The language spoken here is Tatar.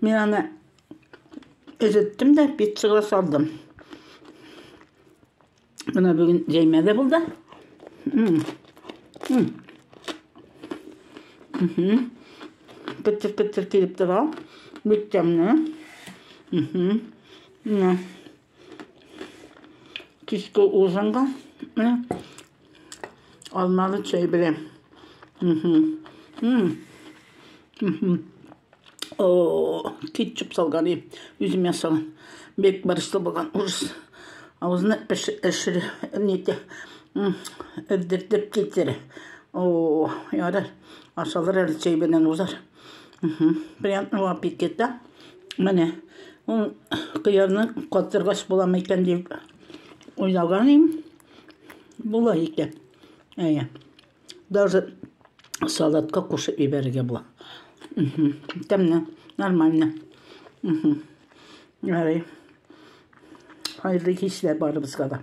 Мин аны эреттем дә пиццага салдым. Менә бүген җәймә дә булды. Петер-петер килеп тора. Бик тәмле. Менә. Кичке ужинга менә алмалы чәй белән. О, кетчуп салган и үзем ясаган. Бек барышлы булган урыс авызны әшер нете эрдертеп китер. О, ярар. Ашалыр әле чәй белән узар. Приятного аппетита. Менә ул кыярны катыргач буламы икән дип уйлаган идем. Була икән. Әйе. Даже салатка кушып ибәрергә була. Тәмле, нормально. Ярый. Хәерле кичләр барыбызга да.